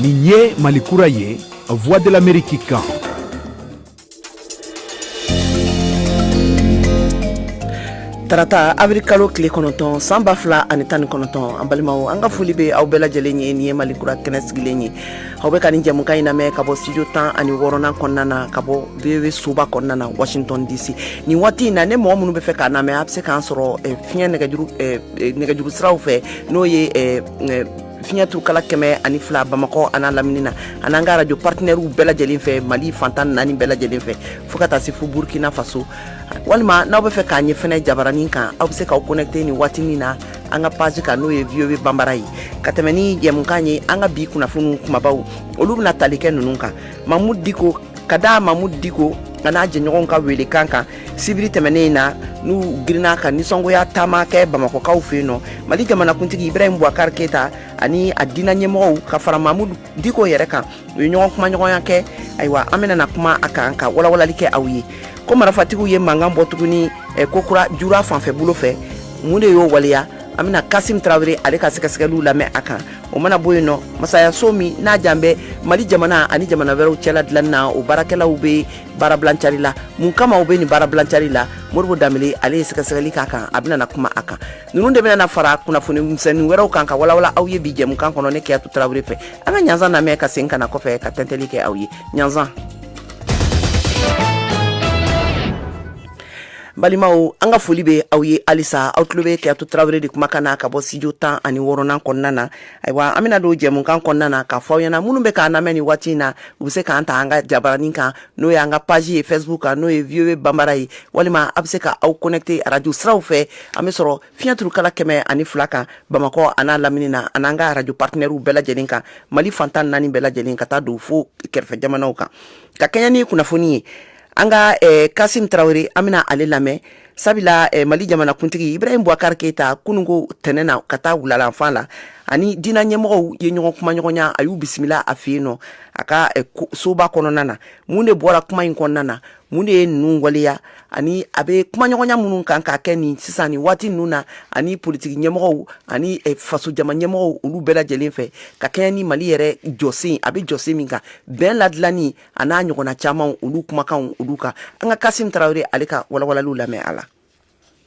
Nin ye malikura ye a voix de l'amérique kan tarata awirili kalo tile kɔnɔntɔn san ba fila ani tan ni kɔnɔntɔn an balimaw an ka foli be aw bɛɛ lajɛlen ye nin ye mali kura kɛnɛ sigilen ye aw be ka nin jɛmukan in lamɛn ka bɔ studio tan ani wɔɔrɔnan kɔnɔna na ka bɔ voa soba kɔnɔna na washington dc nin waati in na ne mɔgɔ minnu be fɛ k'an lamɛn a be se k'an sɔrɔ eh, fiɲɛ nɛgɛjuru eh, eh, nɛgɛjuru siraw fɛ n'o ye fiɲɛturukala kɛmɛ ani fila bamakɔ an'a lamini na an'an ka arajo partenairew bɛɛ lajɛlen fɛ mali fan tan ni naani bɛɛ lajɛlen fɛ fo ka taa se fo burkina faso walima n'aw be fɛ k'an ye fɛnɛ jabaranin kan aw be se k'aw connecter nin waatinin na an ka page kan n'o ye voa banbara ye ka tɛmɛ ni jɛmukan ye an ka bi kunnafoniw kumabaw olu bena tali kɛ ninnu kan mamudu diko ka da mamudu diko an'a jɛɲɔgɔnw ka weele kan kan sibiri tɛmɛnen in na n'u girinna ka nisɔngoya taama kɛ bamakɔkaw fɛ yen nɔ mali jamanakuntigi ibrahim bubakar keita ani a diina ɲɛmɔgɔw ka fara mamudu diko yɛrɛ kan u ye ɲɔgɔn kumaɲɔgɔnya kɛ ayiwa an bɛna na kuma a kan ka walawalali kɛ aw ye ko marafatigiw ye mankan bɔ tuguni eh, kokura jura fanfɛ bolo fɛ mun de y'o waleya an bɛna kasim tarawele ale ka sɛgɛsɛgɛliw lamɛn a kan o mana bɔ yen nɔ masayaso min n'a jan bɛ mali jamana ani jamana wɛrɛw cɛla dilan na o baarakɛlaw bɛ baarabilancari la mun kama u bɛ nin baarabilancari la modibo danbele ale ye sɛgɛsɛgɛli k'a kan a bɛna na kuma a kan ninnu de bɛna na fara kunnafoni misɛnnin wɛrɛw kan ka walawala aw ye bi jɛmukan kɔnɔ ne kajatu tarawele fɛ an ka ɲasan lamɛn ka segin ka na kɔfɛ ka tɛntɛli kɛ aw ye ɲasan balimaw an ka foli bɛ aw ye halisa aw tulo bɛ kajatu tarawele de kuma kan na ka bɔ studio tan ani wɔɔrɔnan kɔnɔna na ayiwa an bɛna don jɛmukan kɔnɔna na ka fɔ aw ɲɛna minnu bɛ k'an lamɛn ni waati in na u bɛ se k'an ta an ka jabaranin kan n'o y'an ka page ye facebook kan n'o ye voa banbara ye walima a bɛ se k'aw connecter arajo siraw fɛ an bɛ sɔrɔ fiɲɛturukala kɛmɛ ani fila kan bamakɔ an'a lamini na ani an ka arajo partenairew bɛɛ lajɛlen kan mali fan tan ni naani bɛɛ lajɛlen ka taa don fo kɛrɛfɛ jamanaw kan ka kɛɲɛ ni kunnafoni ye an ka eh, kasim tarawele an bɛna ale lamɛn sabula eh, mali jamanakuntigi ibrahim bubakar keita kununko tɛnɛn na ka taa wulalanfan la ani diina ɲɛmɔgɔw ye ɲɔgɔn kumaɲɔgɔnya a y'u bisimila a fɛ yen nɔ a ka eh, soba kɔnɔna na mun de bɔra kuma in kɔnɔna na mun de ye ninnu waleya ani a bɛ kumaɲɔgɔnya minnu kan ka kɛ nin sisan ni waati ninnu na ani politiki ɲɛmɔgɔw ani eh, faso jama ɲɛmɔgɔw olu bɛɛ lajɛlen fɛ ka kɛɲɛ ni mali yɛrɛ jɔsen a bɛ jɔsen min kan bɛn ladilanni a n'a ɲɔgɔnna caman olu kumakan olu kan an ka kasimu tarawele ale ka walawalali lamɛn a la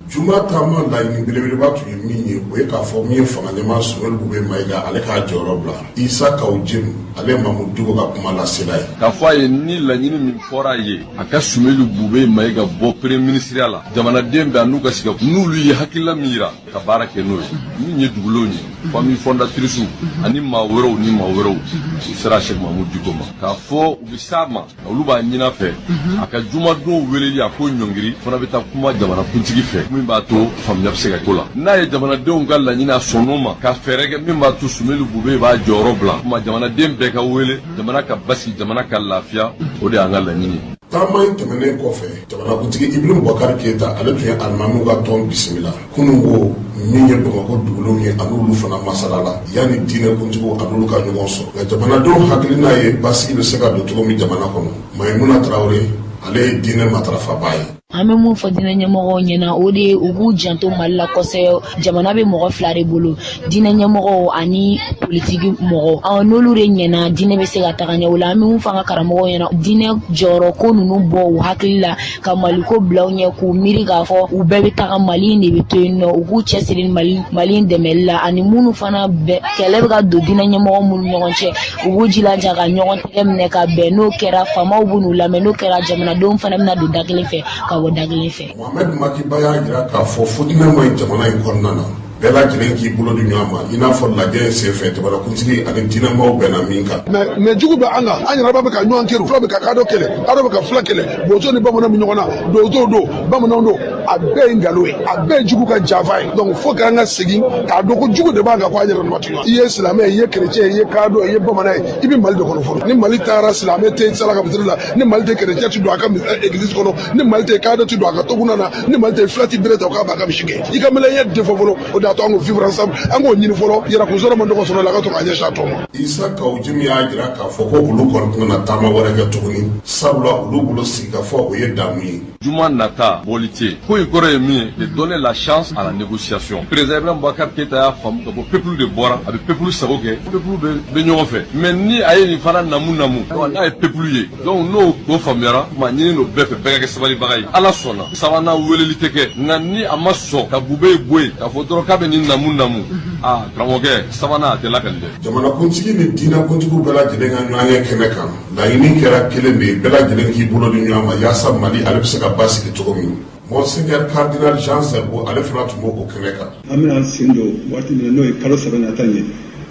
juma taama laɲini belebeleba tun ye min ye o ye k'a fɔ min ye fangaɲɛmaa sumelu bube mayiga ale k'a jɔyɔrɔ bila isa kawu jimi ale mamudu diko ka kuma lasela ye k'a fɔ a ye ni laɲini min fɔra a ye a ka sumelu bube mayiga bɔ premier minisiriya la jamanaden bɛɛ an'u ka sigi n'olu ye hakilila min ka baara kɛ n'o ye min ye dugulenw ye fami fɔndatirisiw ani maa wɛrɛw ni maa wɛrɛw u sera shɛki mamudu diko ma k'a fɔ u bɛ s'a ma olu b'a ɲini a fɛ a ka jumadon weleli a k'o ɲɔngiri fana bɛ taa kuma jamanakuntigi fɛ min b'a to faamuya bɛ se ka k'o la n'a ye jamanadenw ka laɲini a sɔnn'o ma ka fɛɛrɛ kɛ min b'a to sumelu bube b'a jɔyɔrɔ bila kuma jamanaden bɛɛ ka wele jamana ka basigi jamana ka lafiya o de y'an ka laɲini ye taama in tɛmɛnen kɔfɛ jamanakuntigi ibrahim bubakar keyita ale tun ye alimamiw ka tɔn bisimila kunun ko min ye bamakɔ dugulenw ye an'olu fana masala la yanni diinɛ kuntigiw an'olu ka ɲɔgɔn sɔrɔ nka jamanadenw hakilina ye basigi bɛ se ka don cogo min jamana kɔnɔ mayimuna tarawele ale ye diinɛ matarafabaa ye an bɛ min fɔ diinɛ ɲɛmɔgɔw ɲɛna o de ye u k'u janto mali la kosɛbɛ jamana bɛ mɔgɔ fila de bolo diinɛ ɲɛmɔgɔw ani politiki mɔgɔw n'olu de ɲɛna diinɛ bɛ se ka taga ɲɛ o la an bɛ min fɔ an ka karamɔgɔw ɲɛna diinɛ jɔyɔrɔ ko ninnu bɔ u hakili la ka mali ko bila ɲɛ k'u miiri k'a fɔ u bɛɛ bɛ taga mali de bɛ to yen nɔ u k'u cɛ siri mali mali dɛmɛli la ani minnu fana bɛɛ kɛlɛ bɛ ka don diinɛ ɲɛmɔgɔ minnu ɲɔgɔn cɛ u b'u jilaja ka ɲɔgɔn tɛgɛ minɛ ka bɛn n'o kɛra faamaw bɛn'u lamɛn n'o kɛra jamanadenw fana bɛna don da kelen fɛ ka bɔ da kelen fɛ Mohamed Makiba y'a jira k'a fɔ fitinɛ ma ɲi jamana in kɔnɔna na bɛɛ lajɛlen k'i bolo di ɲɔgɔn ma i n'a fɔ lajɛ in senfɛ jamanakuntigi ani diinɛmaw bɛnna min kan mais jugu bɛ an kan an yɛrɛma bɛ ka ɲɔgɔn kɛlɛ fula bɛ ka kadɔ kɛlɛ kadɔ bɛ ka fula kɛlɛ bozo ni bamananw bɛ ɲɔgɔn na donso don bamananw don a bɛɛ ye nkalon ye a bɛɛ ye jugu ka janfa ye donc fo k'an ka segin k'a dɔn ko jugu de b'an kan ko an yɛrɛ dama tɛ i ye silamɛ ye i ye kerecɛn ye i ye kadɔ ye i ye bamanan ye i bɛ mali de kɔnɔ fɔlɔ ni mali taara silamɛ tɛ sali a ka misiri la ni mali tɛ kerecɛn ti don a ka eh, église kɔnɔ ni mali tɛ kadɔ ti don a ka toguna na ni mali tɛ fila ti bere ta o k'a b'a ka misi gɛn i ka mɛlɛya de fɔ fɔlɔ o de y'a to an ko vivre ensemble an k'o ɲini fɔlɔ yɛrɛkun sɔrɔ man dɔgɔ sɔrɔ la a ka to k'a ɲɛsin a tɔ ma isa kawu jimi y'a jira k'a fɔ ko olu kɔni tɛna taama wɛrɛ kɛ tuguni sabula olu bolo sigikafɔ o ye damu ye juma nata bɔli tɛ ko in kɔrɔ ye min ye de donner la chance à la négociation président ibrahim bubakar keyita y'a faamu k'a fɔ peuple de bɔra a bɛ peuple sago kɛ peuple bɛ ɲɔgɔn fɛ mais ni a ye nin fana namu namu n'a ye peuple ye donc n'o ko faamuyara n b'a ɲini olu bɛɛ fɛ bɛɛ ka kɛ sabalibaga ye ala sɔnna sabanan weleli tɛ kɛ nka ni a ma sɔn ka bubeyi bɔ yen k'a fɔ dɔrɔn k'a bɛ nin namu namu a karamɔgɔkɛ sabanan a tɛ lakali dɛ jamanakuntigi ni diinɛkuntigiw bɛɛ lajɛlen ka ɲɔgɔnye kɛnɛ kan laɲini kɛra kelen de ye bɛɛ lajɛlen k'i bolo di ɲɔgɔn ma yaasa mali ale bɛ se ka basigi cogo min Monseigneur Cardinal Jean Zerbo ale fana tun bɛ o kɛnɛ kan an bɛna sen don waati min na n'o ye kalo saba nata ye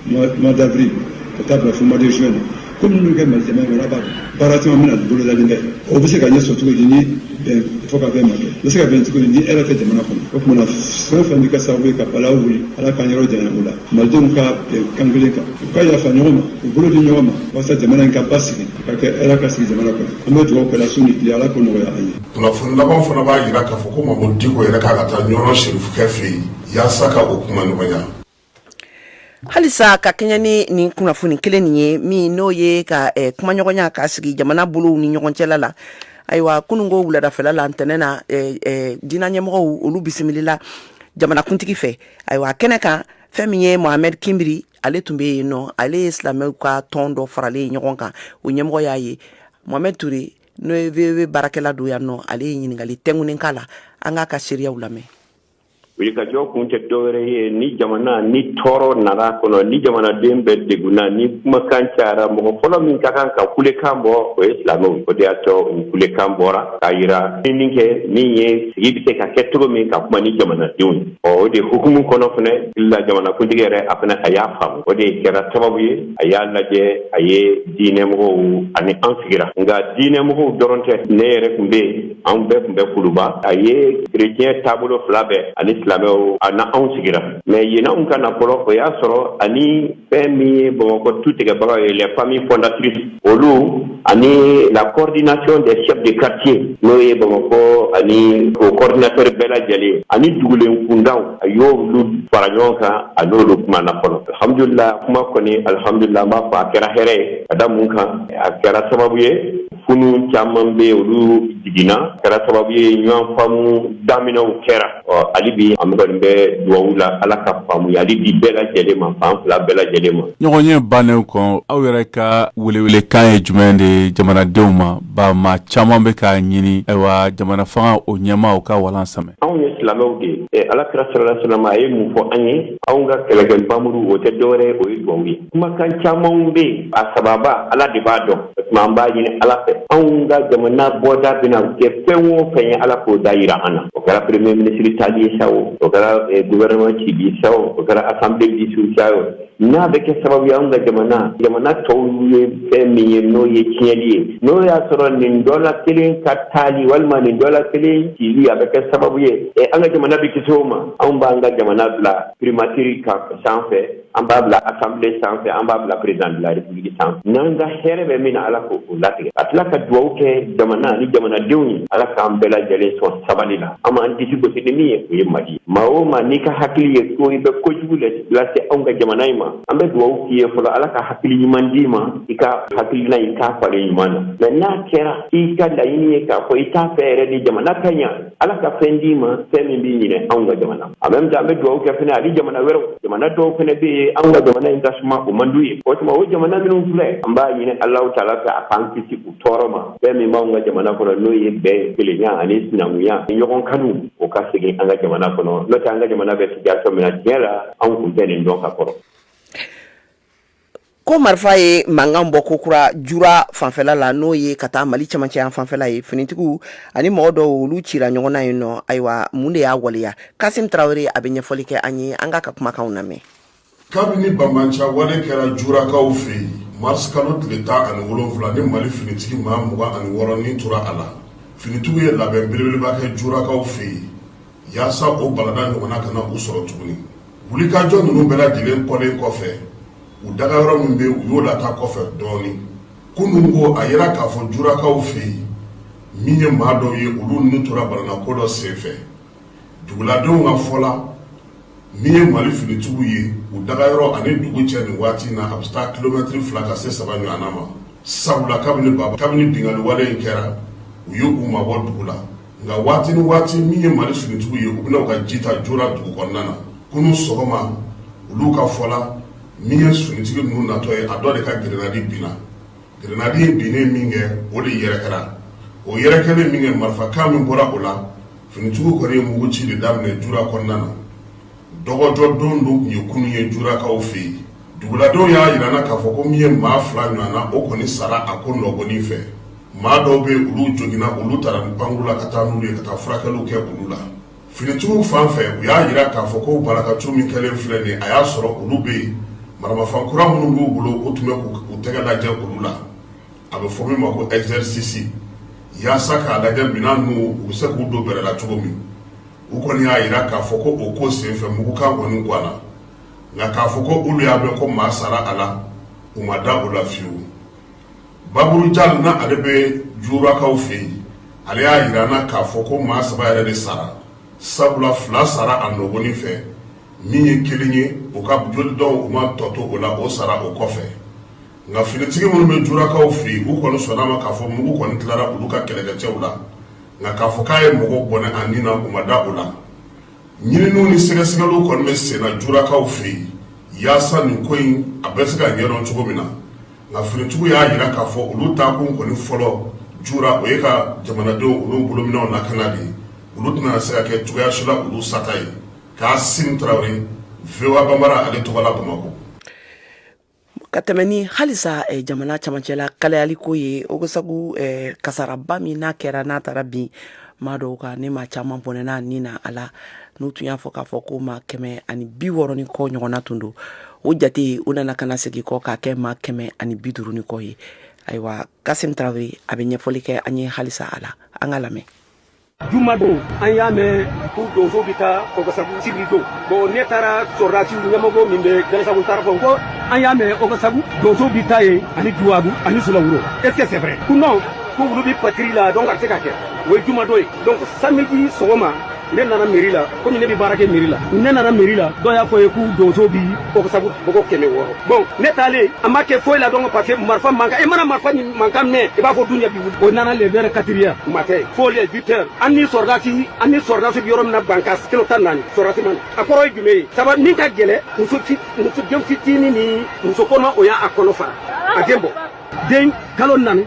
mois d'avril ka taa bila fo mois de juin na ko minnu kɛ mali baara baara caman min bolodalen o bɛ se ka ɲɛ sɔrɔ cogo di fo ka bɛn ma kɛ bɛ se ka bɛn cogo di ni hɛrɛ tɛ jamana kɔnɔ o tuma fɛn fɛn bɛ kɛ sababu ye ka balawu wuli ala k'an yɔrɔ janya o la malidenw ka bɛn kan kelen kan u ka yafa ɲɔgɔn ma u bolo di ɲɔgɔn ma walasa jamana in ka basigi ka kɛ hɛrɛ ka sigi jamana kɔnɔ an bɛ dugawu kɛla su ni tile ala k'o nɔgɔya an ye kunnafoni laban fana b'a jira k'a fɔ ko mahamudu diko yɛrɛ k'a ka taa ɲɔrɔn serifukɛ fɛ yen yaasa ka o kumaɲɔgɔnya halisa ka kɛɲɛ ni nin kunnafoni kelen nin ye min n'o ye ka eh, kumaɲɔgɔnya ka sigi jamana bolow ni ɲɔgɔn cɛla la ayiwa kunun ko wuladafɛla la ntɛnɛn na eh, eh, diinɛ ɲɛmɔgɔw olu bisimilila jamanakuntigi fɛ ayiwa kɛnɛ kan fɛn min ye mohamɛd kinbiri ale tun bɛ yen nɔ ale ye silamɛw ka tɔn dɔ faralen ɲɔgɔn kan o ɲɛmɔgɔ y'a ye mohamɛd ture n'o ye VOA baarakɛla don yan nɔ ale ye ɲininkali tɛnkunin k'a la an k'a ka seereyaw lamɛn wulikajɔ kun tɛ dɔwɛrɛ ye ni jamana ni tɔɔrɔ nana kɔnɔ ni jamanaden bɛɛ degunna ni kumakan cayara mɔgɔ fɔlɔ min ka kan ka kulekan bɔ o ye silamɛw o de y'a to u kulekan bɔra k'a yira min kɛ min ye sigi bɛ se ka kɛ cogo min ka kuma ni jamanadenw ye ɔ o de hukumu kɔnɔ fana la jamanakuntigi yɛrɛ a fana a y'a faamu o de kɛra sababu ye a y'a lajɛ a ye diinɛmɔgɔw ani an sigira nka diinɛmɔgɔw dɔrɔn tɛ ne yɛrɛ tun bɛ yen an bɛɛ tun bɛ kuluba a ye kerecɛn taabolo fila bɛɛ ani silamɛw a n'anw sigira mais yanni anw ka na fɔlɔ o y'a sɔrɔ ani fɛn min ye bamakɔ tutigɛbagaw ye les familles fondatrices olu ani la coordination des chefs de quartier n'o ye bamakɔ ani o coordinateur bɛɛ lajɛlen ani dugulen kundaw a y'olu fara ɲɔgɔn kan a n'olu kumana fɔlɔ alhamdulila kuma kɔni alhamdulila an b'a fɔ a kɛra hɛrɛ ye ka da mun kan a kɛra sababu ye funu caman bɛ olu jiginna a kɛra sababu ye ɲɔgɔn faamu daminɛw kɛra ɔ hali bi an kɔni bɛ duwawu la ala ka faamuyali di bɛɛ lajɛlen ma fan fila bɛɛ lajɛlen ma ɲɔgɔn ye bannen kɔ aw yɛrɛ ka welewelekan ye jumɛn de ye jamanadenw ma Ba maa caman bɛ k'a ɲini ayiwa jamana fanga o ɲɛmaaw ka walan sɛmɛ anw ye silamɛw de ye ɛ ala kira salalahu alayhi wa salam a ye mun fɔ an ye anw ka kɛlɛkɛ npanmuru o tɛ dɔwɛrɛ ye o ye duwawu ye kumakan camanw bɛ yen a sababa ala de b'a dɔn o tuma an b'a ɲini ala fɛ anw ka jamana bɔda bɛna kɛ fɛn o fɛn ye ala k'o da yira an na o kɛra premier ministre taali ye sa o o kɛra gouvernement cili ye sa o kɛra assemblée dissous sa o n'a bɛ kɛ sababu ye anw ka jamana jamana tɔw ye fɛn min ye n'o ye tiɲɛli ye n'o y'a sɔrɔ nin dɔ la kelen ka taali walima nin dɔ la kelen cili a bɛ kɛ sababu ye ɛ an ka jamana bɛ kisi o ma anw b'an ka jamana bila primatiri kan sanfɛ an b'a bila asanbile sanfɛ an b'a bila perezidan de la repubuliki sanfɛ n'an ka hɛrɛ bɛ min na ala k'o latigɛ a tila ka duwawu kɛ jamana ni jamanadenw ye ala k'an bɛɛ lajɛlen sɔn sabali la an b'an disi gosi ni min ye o ye mali ye maa o maa n'i ka hakili ye ko i bɛ kojugu lɛ lase anw ka jamana in ma an bɛ dugawu k'i ye fɔlɔ ala ka hakili ɲuman d'i ma i ka hakilina in k'a falen ɲuman na mɛ n'a kɛra i ka laɲini ye k'a fɔ i t'a fɛ yɛrɛ de jamana ka ɲa ala ka fɛn d'i ma fɛn min b'i ɲinɛ anw ka jamana en même temps an bɛ dugawu kɛ fɛnɛ hali jamana wɛrɛw jamana dɔw fɛnɛ bɛ yen anw ka jamana in ka suma o man d'u ye o tuma o jamana minnu filɛ an b'a ɲini alahu taala fɛ a k'an kisi u tɔɔrɔ ma fɛn min b'anw ka jamana kɔnɔ n'o ye bɛn kelenya ani sinankunya ɲɔgɔn kanu o ka segin an ka jamana kɔnɔ n'o tɛ an ka jamana bɛ situation min na tiɲɛ la anw kun tɛ nin dɔn ka kɔrɔ ko marifa ye mankan bɔ kokura jura fanfɛla la n'o ye ka taa mali camancɛ yan fanfɛla ye finitigiw ani mɔgɔ dɔw olu cira ɲɔgɔn na yen nɔ ayiwa mun de y'a waleya kasim tarawele a bɛ ɲɛfɔli kɛ an ye an k'a ka kumakanw lamɛn kabini banbaanciya wale kɛra jurakaw fɛ yen marisi kalo tile tan ani wolonwula ni mali finitigi maa mugan ani wɔɔrɔ ni tora a la finitigiw ye labɛn belebeleba kɛ jurakaw fɛ yen yaasa o balada ɲɔgɔnna kana u sɔrɔ tuguni wulikajɔ ninnu bɛɛ lajɛlen kɔlen kɔfɛ u dagayɔrɔ min bɛ u y'o lataa kɔfɛ dɔɔni kunun ko a yera k'a fɔ jurakaw fɛ yen min ye maa dɔw ye olu ni tora balanako dɔ senfɛ duguladenw ka fɔ la min ye mali finitigiw ye u dagayɔrɔ ani dugu cɛ nin waati na a bɛ taa kilomɛtiri fila ka se saba ɲɔgɔn ma sabula kabini baba kabini binkaliwale in kɛra u ye u mabɔ dugu la nka waati ni waati min ye mali finitigiw ye u bɛ na u ka ji ta jura dugu kɔnɔna na kunun sɔgɔma olu ka fɔ la min ye finitigi ninnu natɔ ye a dɔ de ka gɛrɛnadi binna Grenade in binnen min kɛ, o de yɛrɛkɛra. O yɛrɛkɛlen min kɛ, marifakan min bɔra o la, finitigiw kɔni ye mugu ci de daminɛ Jura kɔnɔna na. Dɔgɔjɔ don don tun ye kunun ye Jurakaw fɛ yen. Duguladenw y'a jira an na k'a fɔ ko min ye maa fila ɲɔgɔnna, o kɔni sara a ko nɔgɔnni fɛ. Maa dɔw bɛ yen, olu joginna, olu taara ni pankuru la ka taa n'olu ye ka taa furakɛliw kɛ olu la. Finitigiw fan fɛ u y'a jira k'a fɔ ko barakatu min kɛlen filɛ nin a y'a sɔrɔ olu bɛ yen maramafɛn kura minnu b'u bolo u tun bɛ k'u tɛgɛ lajɛ olu la a bɛ fɔ min ma ko ɛzɛrisisi yaasa k'a lajɛ minɛn ninnu u bɛ se k'u don baara la cogo min u kɔni y'a jira k'a fɔ ko o ko senfɛ mugukan kɔni ganna nka k'a fɔ ko olu y'a mɛn ko maa sara a la u ma da o la fewu baburu jal na ale bɛ jurakaw fɛ yen ale y'a yira an na k'a fɔ ko maa saba yɛrɛ de sara sabula fila sara a nɔgɔnin fɛ min ye kelen ye u ka joli dɔw u ma tɔ to o la o sara o kɔfɛ nka finitigi minnu bɛ jurakaw fɛ yen u kɔni sɔnna ma k'a fɔ mugu kɔni tilara olu ka kɛlɛkɛcɛw la nka k'a fɔ k'a ye mɔgɔ bɔnɛ a ni na u ma da o la ɲininiw ni sɛgɛsɛgɛliw kɔni bɛ senna jurakaw fɛ yen yaasa nin ko in a bɛ se ka ɲɛdɔn cogo min na nka finitigiw y'a yira k'a fɔ olu taakun kɔni fɔlɔ jura o ye ka jamanadenw olu bolominɛnw lakana de ye olu tɛna se ka kɛ cogoya si la olu sata ye kasim tarawele voa banbara ale tɔgɔ la bamakɔ ka tɛmɛ ni halisa eh, jamana camancɛ la kalayaliko ye ogosagu eh, kasaraba min n'a kɛra n'a taara bin maa dɔw kan ni maa caman bɔnɛna ni na a la n'u tun y'a fɔ k'a fɔ ko maa kɛmɛ ani bi wɔɔrɔ ni kɔ ɲɔgɔnna tun don o jate u nana ka na segin kɔ k'a kɛ maa kɛmɛ ani bi duuru ni kɔ ye ayiwa kasim tarawele a bɛ ɲɛfɔli kɛ an ye halisa a la an k'a lamɛn juma don an y'a mɛn ko donso bɛ taa ɔgɔsagu sibiri don bon ne taara sɔrɔdasi ɲɛmɔgɔ min bɛ jalasagu taara fɔ ko an y'a mɛn ɔgɔsagu donso bɛ taa yen ani juwagu ani sulawuro est ce que c'est vrai ko non ko olu bɛ patrouille la donc a tɛ se ka kɛ o ye juma don ye donc samedi sɔgɔma ne nana mairie la komi ne bɛ baara kɛ mairie la ne nana mairie la dɔ y'a fɔ ye ko donso bi ɔgɔsagu mɔgɔ kɛmɛ wɔɔrɔ bon ne taalen a ma kɛ foyi la donc parce que marifa mankan i mana marifa ni mankan mɛn i b'a fɔ dunya bi wuli o nana le vers quatre heures u ma kɛ fo le huit heures an ni sɔrɔdasi an ni sɔrɔdasi bi yɔrɔ min na bankasi kilo tan naani sɔrɔdasi ma na a kɔrɔ ye jumɛn ye sabu min ka gɛlɛn muso muso den fitini ni muso kɔnɔma o y'a kɔnɔ fara a den bɔ den kalo naani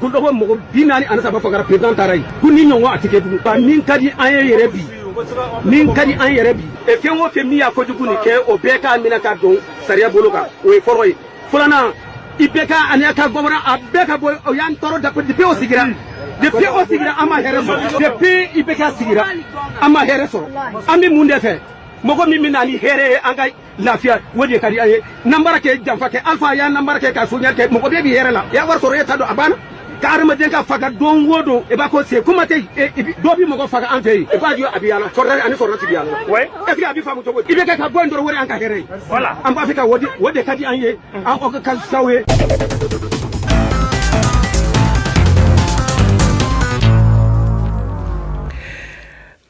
kulɔgɔn mɔgɔ bi naani ani saba fagara président taara yen ko ni ɲɔgɔn a tɛ kɛ tugun bon min ka di an ye yɛrɛ bi min ka di an yɛrɛ bi e fɛn o fɛn min y'a kojugu nin kɛ o bɛɛ ka minɛ ka don sariya bolo kan o ye fɔlɔ ye filanan ibk ani a ka gouvernement a bɛɛ ka bɔ o y'an tɔɔrɔ dɛ depuis o sigira depuis o sigira an ma hɛrɛ sɔrɔ depuis ibk sigira an ma hɛrɛ sɔrɔ an bɛ mun de fɛ mɔgɔ min bɛ na ni hɛrɛ ye an ka lafiya o de ka di an ye nanbara kɛ janfa kɛ alfa y'a nanbara kɛ ka soɲɛli kɛ mɔgɔ bɛɛ b'i yɛrɛ la i y'a wari sɔrɔ e ta don a banna ka hadamaden ka faga don o don i b'a ko se kuma tɛ dɔ bi mɔgɔ faga an fɛ yen i b'a ye a bɛ yaala sɔrɔdasi ani sɔrɔdasi bɛ yaala est ce que a bɛ faamu cogo di ibk ka bɔ yen dɔrɔn o de y'an ka hɛrɛ ye an b'a fɛ ka o de ka di an ye an o ka sago ye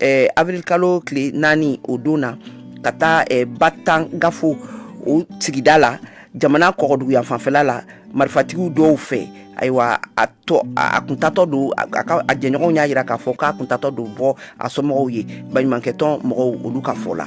Eh, avril kalo tile naani o don na ka taa eh, Batangafo o sigida la jamana kɔgɔdugu yanfan fɛla la marifatigiw dɔw fɛ ayiwa a a kun taatɔ don a jɛɲɔgɔnw y'a jira k'a fɔ k'a kun taatɔ don bɔ a somɔgɔw ye baɲumankɛtɔn mɔgɔw olu ka fɔ la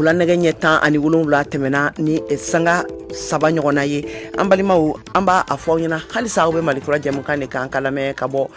Wula nɛgɛ ɲɛ tan ani wolonwula tɛmɛna ni sanga saba ɲɔgɔnna ye an balimaw an b'a fɔ aw ɲɛna halisa aw bɛ mali kura jɛmukan de kan ka lamɛn ka bɔ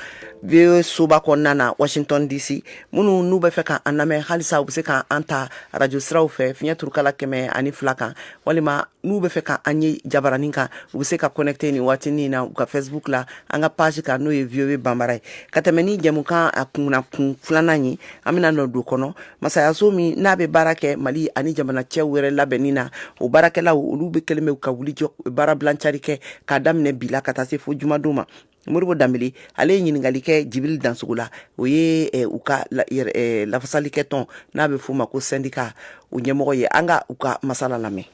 VOA soba kɔnɔna na washington dc minnu n'u bɛ fɛ k'an lamɛn halisa u bɛ se k'an ta radio siraw fɛ fiɲɛ turukala kɛmɛ ani fila kan walima n'u bɛ fɛ ka an ye jabaranin kan u bɛ se ka connecter ni waati nin na u ka Facebook la an ka page kan n'o ye VOA Bambara ye ka tɛmɛ ni jɛmukan a kunkun filanan ye an bɛna nɔ don kɔnɔ masayaso min n'a bɛ baara kɛ mali ani jamana cɛw wɛrɛ labɛnni na o baarakɛlaw olu bɛ kɛlen bɛ ka wuli jɔ baarabila cari kɛ k'a daminɛ bi la ka taa se fo jumadon ma Modibo Dembélé ale ye ɲininkali kɛ Djibril dansogo la o ye eh, u ka eh, lafasali kɛ tɔn n'a bɛ f'o ma ko syndicat o ɲɛmɔgɔ ye an ka u ka masala lamɛn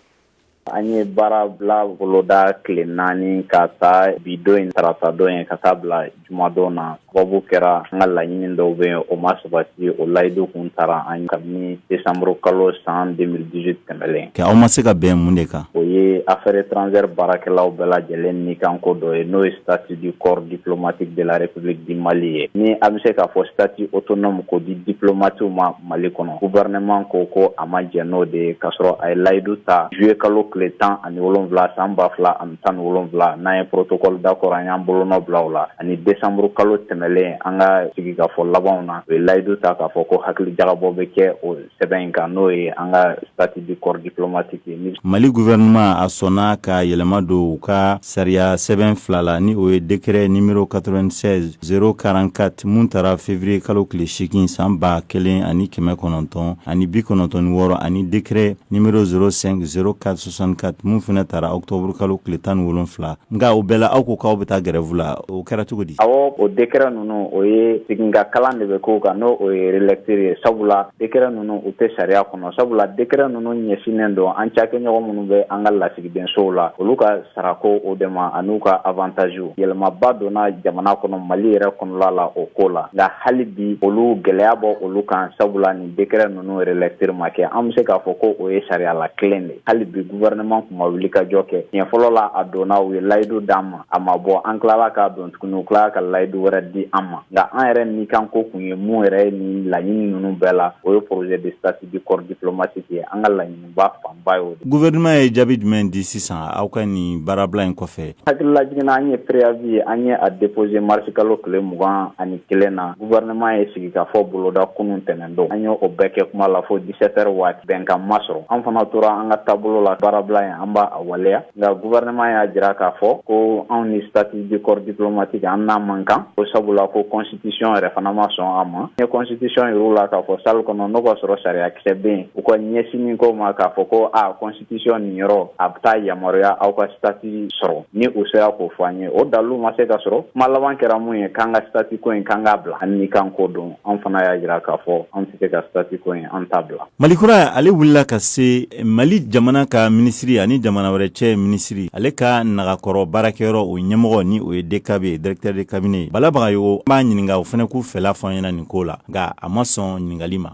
an ye baara bila boloda tile naani k'a ta bi don in tarata don ye ka taa bila jumadon na sababu kɛra an ka laɲini dɔw bɛ yen o ma sabati o layidu kun tara an kabini décembre kalo san 2018 tɛmɛlen, ok aw ma se ka bɛn mun de kan? O ye affaires étrangères baarakɛlaw bɛɛ lajɛlen ni kan ko dɔ ye n'o ye statut du corps diplomatique de la République du Mali ye, ni an bɛ se k'a fɔ statut autonome k'o di diplomatiw ma Mali kɔnɔ, gouvernement ko ko a ma jɛn n'o de ye k'a sɔrɔ a ye layidu ta juillet kalo tile tan ani wolonwula san ba fila ani tan wolonwula n'an ye protocole d'accord an y'an bolonɔ bila o la ani desanburu kalo tɛmɛlen an ka sigikafɔ labanw na u ye layidu ta k'a fɔ ko hakili jagabɔ bɛ kɛ o sɛbɛn in kan n'o ye an ka statut du corps diplomatique ye mali gouvernement a sɔnna ka yɛlɛma don u ka sariya sɛbɛn fila la ni o ye décret numéro 96 044 mun tara février kalo tile seegin san ba kelen ani kɛmɛ kɔnɔntɔn ani bi kɔnɔntɔn ni wɔɔrɔ ani décret numéro 05 04 san ka mun fana tara octobre kalo tile tan ni wolonwula nka o bɛɛ la aw ko k'aw bɛ taa grève la o kɛra cogo di awɔ o décret ninnu o ye segin ka kalan de bɛ k'o kan n'o o ye relecture ye sabula décret ninnu u tɛ sariya kɔnɔ sabula décret ninnu ɲɛsinnen don an cakɛɲɔgɔn minnu bɛ an ka lasigidensow la olu ka sarako o de ma ani u ka avantage yɛlɛmaba donna jamana kɔnɔ mali yɛrɛ kɔnɔla la o ko la nka hali bi olu gɛlɛya b'olu kan sabula décret ninnu relecture ma kɛ an bɛ se k'a fɔ ko o ye sariya la kelen de hali bi gouvernement tun ma wuli ka jɔ kɛ tiɲɛ fɔlɔ la a donna u ye layidu d'an ma a ma bɔ an tilala k'a don tuguni u tilala ka layidu wɛrɛ di an ma nka an yɛrɛ ni kan ko kun ye mun yɛrɛ ye nin laɲini ninnu bɛɛ la o ye projet de statut du corps diplomatique ye an ka laɲini ba fanba ye o de gouvernement ye jaabi jumɛn di sisan aw ka nin baarabila in kɔfɛ hakililajiginna an ye préavis an ye a déposer mars kalo tile mugan ani kelen na gouvernement ye sigikafɔ boloda kunun tɛnɛn don an y'o bɛɛ kɛ kuma la fo 17 heures waati bɛnkan ma sɔrɔ an fana tora an ka taabolo la baarabila in an b'a a waleya nka gouvernement y'a jira k'a fɔ ko anw ni statut du corps diplomatique an n'a man kan ko sabula ko constitution yɛrɛ fana ma sɔn a ma n ye constitution yir'u la k'a fɔ salle kɔnɔ n'o k'a sɔrɔ sariya kisɛ bɛ yen u ka ɲɛsin nin ko ma k'a fɔ ko a constitution nin yɔrɔ a bɛ taa yamaruya aw ka statut sɔrɔ ni u sera k'o fɔ an ye o dalilu ma se ka sɔrɔ kuma laban kɛra mun ye k'an ka statut ko in k'an k'a bila an ni kan ko don an fana y'a jira k'a fɔ an tɛ se ka statut ko in an t'a bila Mali kura ale wulila ka se Mali jamana ka minisiri ani jamana wɛrɛ cɛ minisiri ale ka nagakɔrɔ baarakɛyɔrɔ o ɲɛmɔgɔ ni o ye DCAB ye directeur de cabinet Bala Bagayogo an b'a ɲininka o fana k'u fɛla fɔ an ɲɛna nin ko la nka a ma sɔn ɲininkali ma.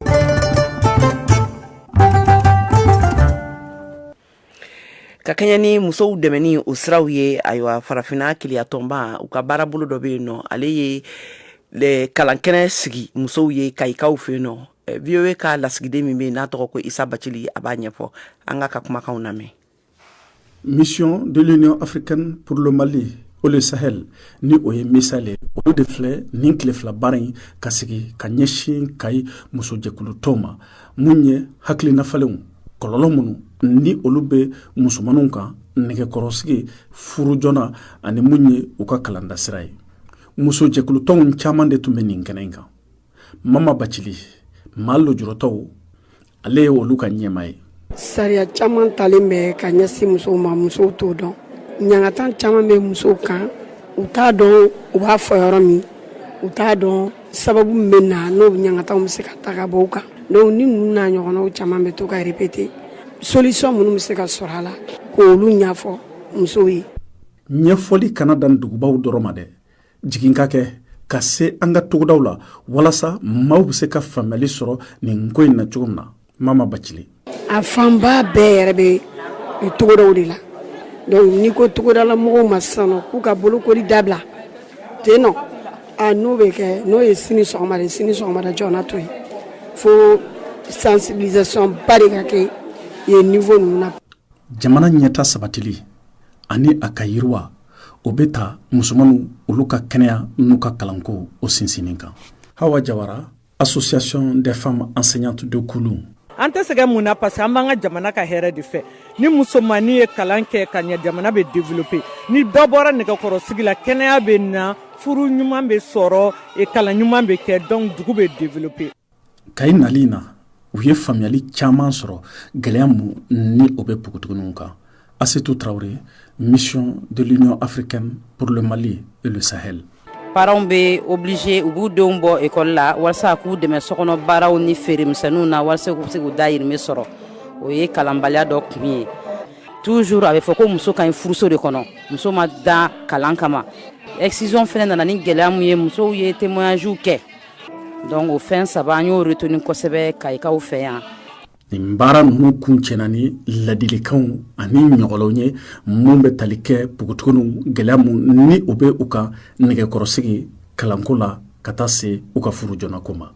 Ka kɛɲɛ ni musow dɛmɛni o siraw ye ayiwa farafinna kelenya tɔnba u ka baarabolo dɔ bɛ yen nɔ ale ye kalankɛnɛ sigi musow ye Kayikaw fɛ yen nɔ eh, voa ka lasigiden min bɛ yen n'a tɔgɔ ko isa bacili a b'a ɲɛfɔ an k'a ka kumakanw lamɛn mission de l'union africaine pour le mali et le sahel ni o ye misahel olu de filɛ nin tile fila baara in ka sigi ka ɲɛsin kayi musojɛkulutɔnw ma mun ye hakilinafalenw kɔlɔlɔ minnu ni olu bɛ musomanninw kan nɛgɛkɔrɔsigi furu joona ani mun ye u ka kalandasira ye musojɛkulutɔnw caman de tun bɛ nin kɛnɛ in kan mama bacili maa lujuratɔw ale ye olu ka ɲɛmaa ye sariya caman talen bɛ ka ɲɛsin musow ma musow t'o dɔn ɲangatan caman bɛ musow kan u t'a dɔn u b'a fɔ yɔrɔ min u t'a dɔn sababu min bɛ na n'o ɲangatanw bɛ se ka ta ka bɔ u kan donc ni ninnu n'a ɲɔgɔnnaw caman bɛ to ka répéter solution minnu bɛ se ka sɔrɔ a la k'olu ɲɛfɔ musow ye ɲɛfɔli kana dan dugubaw dɔrɔn ma dɛ jigin ka kɛ ka se an ka togodaw la walasa maaw bɛ se ka faamuyali sɔrɔ nin ko in na cogo min na mama bacili a fanba bɛɛ yɛrɛ bɛ togodaw de la donc n'i ko togodala mɔgɔw ma sisan k'u ka bolokoli dabila ten nɔ a n'o bɛ kɛ n'o ye sini sɔgɔma de sini sɔgɔmada joona to yen fo sensibilisation ba de ka kɛ yen niveau ninnu na jamana ɲɛtaa sabatili ani a ka yiriwa o bɛ taa musomanninw olu ka kɛnɛya n'u ka kalanko o sinsinnin kan hawa jawara association des femmes enseignantes de kulun an tɛ sɛgɛn mun na parce que an b'an ka jamana ka hɛrɛ de fɛ ni musomannin ye kalan kɛ ka ɲɛ jamana bɛ développer ni dɔ bɔra nɛgɛkɔrɔsigi la kɛnɛya bɛ na furu ɲuman bɛ sɔrɔ kalan ɲuman bɛ kɛ donc dugu bɛ développer kayi nali na u ye faamuyali caman sɔrɔ gɛlɛya minnu bɛ pugutuguniw kan asetu tarawele mission de l'union africaine pour le mali et le sahel parentw bɛ obligé u b'u denw bɔ ekɔli la walasa k'u dɛmɛ sokɔnɔ baaraw ni feere misɛnninw na walasa k'u se k'u dayirimɛ sɔrɔ o ye kalanbaliya dɔ kun ye toujours a bɛ fɔ ko muso ka ɲi furuso de kɔnɔ muso ma dan kalan kama excision fana nana ni gɛlɛya mun ye musow ye témoignagew kɛ donc o fɛn saba an y'o retenu kosɛbɛ kayikaw fɛ yan nin baara ninnu kuncɛna ni ladilikanw ani ɲɔgɔlɔnw ye minnu bɛ tali kɛ pogotuguniw gɛlɛya minnu bɛ u ka nɛgɛkɔrɔsigi kalanko la ka taa se u ka furu joonako ma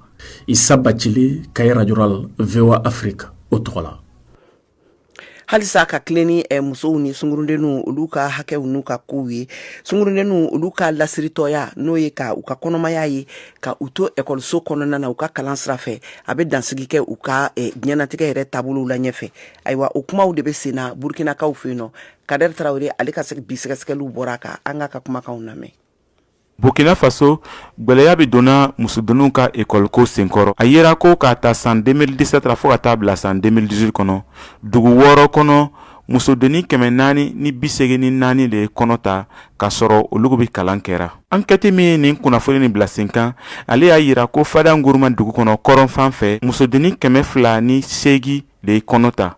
isa bacili kayi radio rurale voa afrique o tɔgɔ la halisa ka tilen ni eh, musow ni sungurundenw olu ka hakɛw n'u ka kow ye sungurundenw olu ka lasiritɔya n'o ye ka u ka kɔnɔmaya ye ka u to ekɔliso kɔnɔna na u ka kalan sira fɛ a bɛ dansigi kɛ u ka eh, diɲɛnatigɛ yɛrɛ taabolow la ɲɛfɛ ayiwa o kumaw de bɛ sen na burukinakaw fɛ yen nɔ kadɛri tarawele ale ka bi sɛgɛsɛgɛliw bɔra a kan an k'a ka kumakanw lamɛn burkina faso gwɛlɛya bɛ donna musodenninw ka ekɔliko senkɔrɔ a yera ko k'a ta san 2017 ra fɔɔ ka taa bila san 2018 kɔnɔ dugu wɔɔrɔ kɔnɔ musodennin kɛmɛ naani ni biseegin ni naani de ye kɔnɔ ta k'a sɔrɔ olu bɛ kalan kɛra ankɛti min ye nin kunnafoni nin bila sen kan ale y'a yira ko fada nguruma dugu kɔnɔ kɔrɔn fan fɛ musodennin kɛmɛ fila ni seegin de ye kɔnɔ ta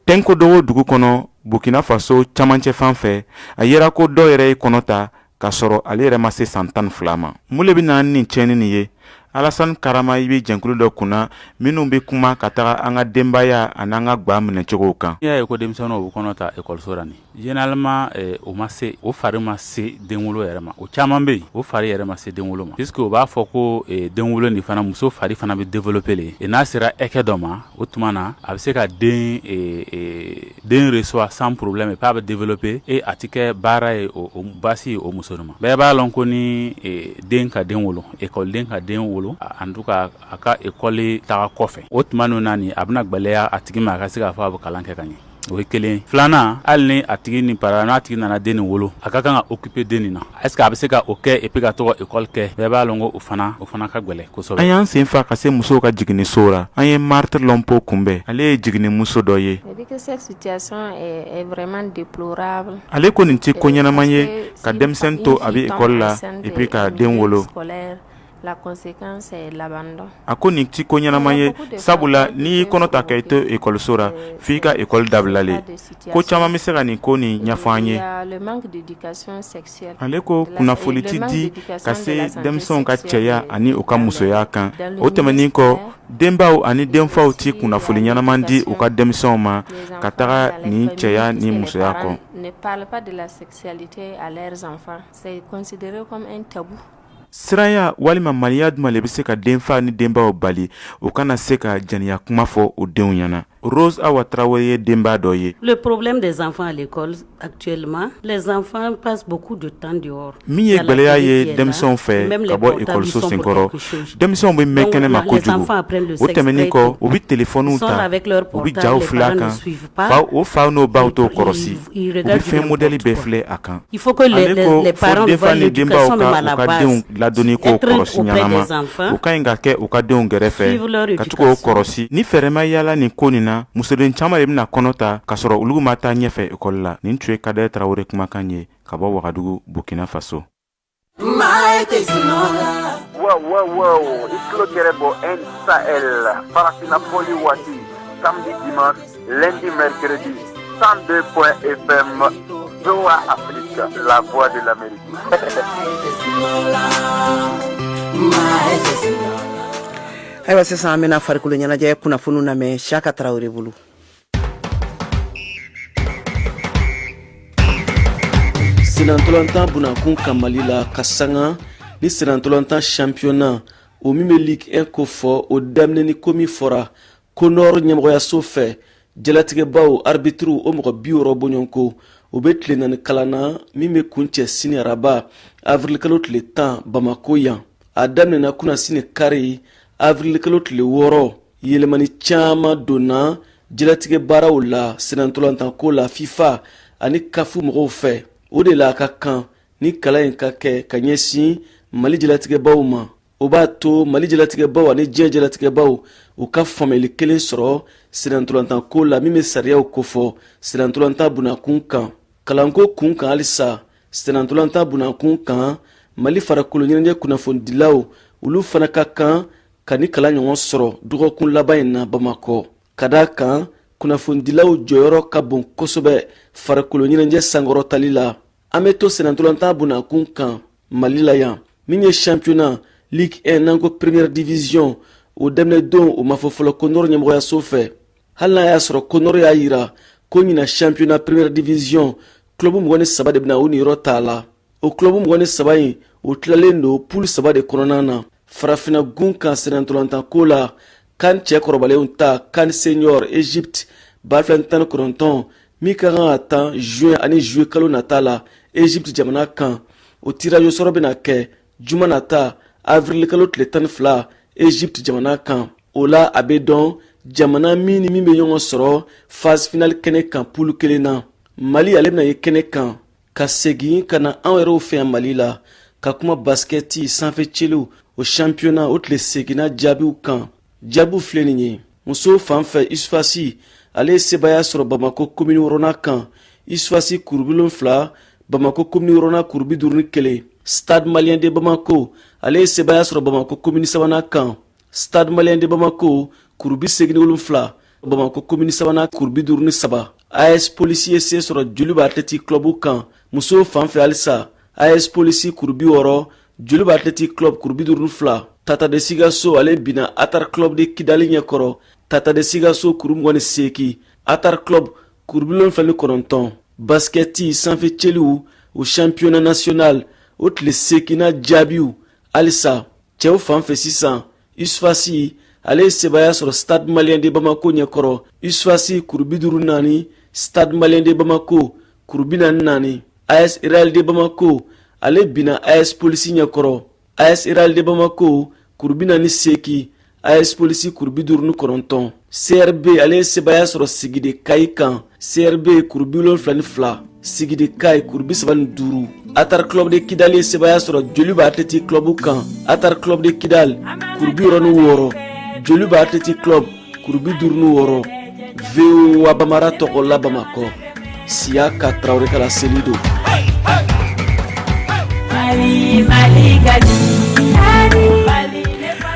tɛnkodogo dugu kɔnɔ burkina faso camancɛ fan fɛ a yera ko dɔ yɛrɛ ye kɔnɔ ta k'a sɔrɔ ale yɛrɛ ma se san tan ni fila ma mun le bɛ na ni tiɲɛni nin ye alasan karama i bɛ jɛnkulu dɔ kunna minnu bɛ kuma ka taga an ka denbaya an'an ka gwa minɛcogow kan n'i y'a ye ko denmisɛnninw bɛ kɔnɔ ta ekɔliso la ni généralement eh, o ma se o fari ma se denwolo yɛrɛ ma o caman bɛ yen o fari yɛrɛ ma se denwolo ma puisque o b'a fɔ ko eh, denwolo nin fana muso fari fana bɛ développer le e n'a sera hakɛ dɔ ma o tuma na a bɛ se ka den eh, eh, den reçoit sans problème et pas bɛ développer et a tɛ kɛ baara ye o baasi ye o muso ma bɛɛ b'a lɔn ko ni e, den ka den wolo école den ka den wolo en tout cas a ka école taga kɔfɛ o tuma ninnu na nin a bɛna gwɛlɛya a tigi ma a ka se k'a fɔ a bɛ kalan kɛ ka ɲɛ o ye kelen filanan hali ni a tigi ni para n'a tigi nana den nin wolo a ka kan ka occuper den nin na Est-ce que a bɛ se ka o kɛ et puis ka taga ekɔli kɛ bɛɛ b'a lɔn ko o fana o fana ka gwɛlɛn kosɛbɛ an y'an sen fa ka se musow ka jiginniso la an ye Marthe Lompo kunbɛn ale ye jiginnimuso dɔ ye ale ko nin tɛ ko ɲɛnaman ye ka denmisɛnnin to a bɛ ekɔli la et puis ka den wolo a ko nin ti ko ɲɛnama ye sabula n'i y'i kɔnɔ ta ka i to ekɔliso la f'i ka ekɔli dabila le ko caman bɛ se ka nin ko nin ɲɛfɔ an ye ale ko kunnafoni ti di ka se denmisɛnw ka cɛya ani u ka musoya kan o tɛmɛnen kɔ denbaw ani denfaw ti kunnafoni ɲɛnaman di u ka denmisɛnw ma ka taga nin cɛya ni musoya kan siranya walima maliya dama le bɛ se ka denfa ni denbaw bali u kana se ka jɛnɛya kuma fɔ u denw ɲɛna Rose Awa Traoré ye denba dɔ ye. Le problème des enfants à l'école actuellement, les enfants passent beaucoup de temps dehors. Min ye gwɛlɛya ye denmisɛnw fɛ ka bɔ ekɔliso sen kɔrɔ, denmisɛnw bɛ mɛn kɛnɛma kojugu. O tɛmɛnen kɔ, u bɛ telefɔniw ta, u bɛ jaw filɛ a kan. o faw n'o baw t'o kɔrɔsi u bɛ fɛn modɛli bɛɛ filɛ a kan denfa ni denbaw ka kan ka denw ladonni ko kɔrɔsi ɲɛnama u ka ɲi ka kɛ u ka denw gɛrɛfɛ ka to k'o kɔrɔsi ni fɛɛrɛ ma yaala nin ko nin na musoden caman le bɛna kɔnɔ ta k'a sɔrɔ olu ma taa ɲɛfɛ ekɔli la nin tun ye Kader tarawele kumakan ye ka bɔ wagadugu burkina faso Wow, wow, wow. It's Cloquerebo and Sahel. Farafinna Fɔli Waati. Samedi, dimanche, lundi, mercredi. 102 point FM. VOA Afrique, la voix de l'Amérique. ayiwa sisan an bɛna farikolo ɲɛnajɛ kunnafoniw lamɛn siyaka tarawele bolo Sennantolatan bonna kun kan mali la ka sanga ni sennantolatan championnat o min bɛ Ligue un kofɔ o daminɛni ko min fɔra CONOR ɲɛmɔgɔyaso fɛ jalatigɛbaw aribitiriw o mɔgɔ bi wɔɔrɔ bɔɲɔgɔnko o bɛ tile naani kalan na min bɛ kuncɛ sini araba avirilikalo tile tan bamakɔ yan a daminɛna kunasini kari avirilikalo tile wɔɔrɔ yɛlɛmani caman donna jɛlatigɛ baaraw la senantolantanko la fifa ani caf mɔgɔw fɛ o de la a ka kan ni kalan in ka kɛ ka ɲɛsin mali jɛlatigɛbaw ma o b'a to mali jɛlatigɛbaw ani diɲɛ jɛlatigɛbaw u ka faamuyali kelen sɔrɔ senantolantanko la min bɛ sariyaw kofɔ senantolantan bunakun kan kalanko kun kan halisa senantolantan bunakun kan mali farikolo ɲɛnajɛ kunnafonidilaw olu fana ka kan ka nin kalan ɲɔgɔn sɔrɔ dɔgɔkun laban in na bamakɔ ka d'a kan kunnafonidilaw jɔyɔrɔ ka bon kosɛbɛ farikolo ɲɛnajɛ sankɔrɔtali la an bɛ to senantolantan bunakun kan mali la yan min ye championnat ligue 1 n'an ko première division o daminɛ don o ma fɔ fɔlɔ conor ɲɛmɔgɔyaso fɛ hali n'a y'a sɔrɔ conor y'a yira ko ɲina championnat première division club mugan ni saba de bɛna u niyɔrɔ t'a la o club mugan ni saba in o tilalen don poule saba de kɔnɔna na farafina gun kan senantolantanko la can cɛ kɔrɔbalenw ta can senior egypte ba fila tan ni kɔnɔntɔn min ka kan ka tan juin ani juillet kalo nata la egypte jamana kan o tirage au sort bɛna kɛ juma nata avril kalo tile tan ni fila egypte jamana kan o la a bɛ dɔn jamana min ni min bɛ ɲɔgɔn sɔrɔ phase finale kɛnɛ kan poule kelen na mali ale bɛna ye kɛnɛ kan ka segin ka na anw yɛrɛw fɛ yan mali la ka kuma basikɛti sanfɛ celiw o championnat o tile seeginnan jaabiw kan jaabiw filɛ nin ye musow fan fɛ usfas ale ye sebaaya sɔrɔ bamako komini wɔɔrɔnan kan usfas kuru bi wolonfila bamako komini wɔɔrɔnan kuru bi duuru ni kelen stade malien de bamako ale ye sebaaya sɔrɔ bamako komini sabanan kan stade malien de bamako kuru bi seegin ni wolonfila bamakɔ komini sabanan kuru bi duuru ni saba as polisi ye se sɔrɔ djoliba athletic club kan musow fan fɛ halisa as polisi kuru bi wɔɔrɔ djoliba athletic club kuru bi duuru ni fila tata de sikasso ale binna atar club de kidali ɲɛ kɔrɔ tata de sikasso kuru mugan ni seeki atar club kuru bi wolonfila ni kɔnɔntɔn basikɛti sanfɛ celiw o championnat national o tile seekinan jaabiw halisa cɛw fan fɛ sisan usfas ale ye sebaaya sɔrɔ stade malien de bamako ɲɛkɔrɔ usfas kuru bi duuru ni naani stade malien de bamako kuru bi naani naani as real de bamako ale binna as polisi ɲɛkɔrɔ as real de bamako kuru bi naani seeki as polisi kuru bi duuru ni kɔnɔntɔn crb ale ye sebaaya sɔrɔ sigui de kayes kan crb kuru bi wolonfila ni fila sigui de kayes kuru bi saba ni duuru atar club de kidali ye sebaaya sɔrɔ djoliba athletic club kan atar club de kidal kuru bi wɔɔrɔ ni wɔɔrɔ djoliba athletic club kuru bi duuru ni wɔɔrɔ voa bambara tɔgɔ la bamakɔ siyaka tarawele kala seli don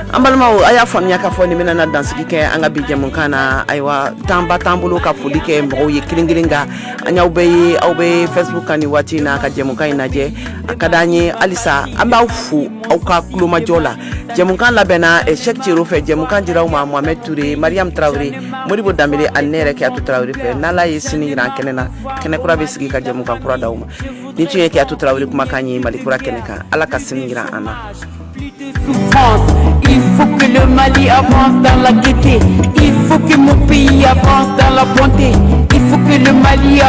an balimaw a y'a faamuya k'a fɔ nin bɛna dansigi kɛ an ka bi jɛmukan na ayiwa tanba t'an bolo ka foli kɛ mɔgɔw ye kelen kelen nka an y'aw bɛɛ ye aw bɛ facebook kan nin waati in na ka jɛmukan in lajɛ a ka d'an ye halisa an b'aw fo aw ka kulomajɔ la jɛmukan labɛnna eh, Cheikh Thierno fɛ jɛmukan dira aw ma Mohamed Toure Mariam Traore modibo danbele ani ne yɛrɛ keyatu tarawele fɛ n'ala ye sini yira an kɛnɛ na kɛnɛ kura bɛ sigi ka jɛmukan kura d'aw ma nin tun ye keyatu tarawele kumakan ye mali kura kɛnɛ kan ala ka sini yira an na Il faut que le Mali avance dans la gaieté. Il faut que mon pays avance dans la bonté. Il faut que le Mali avance.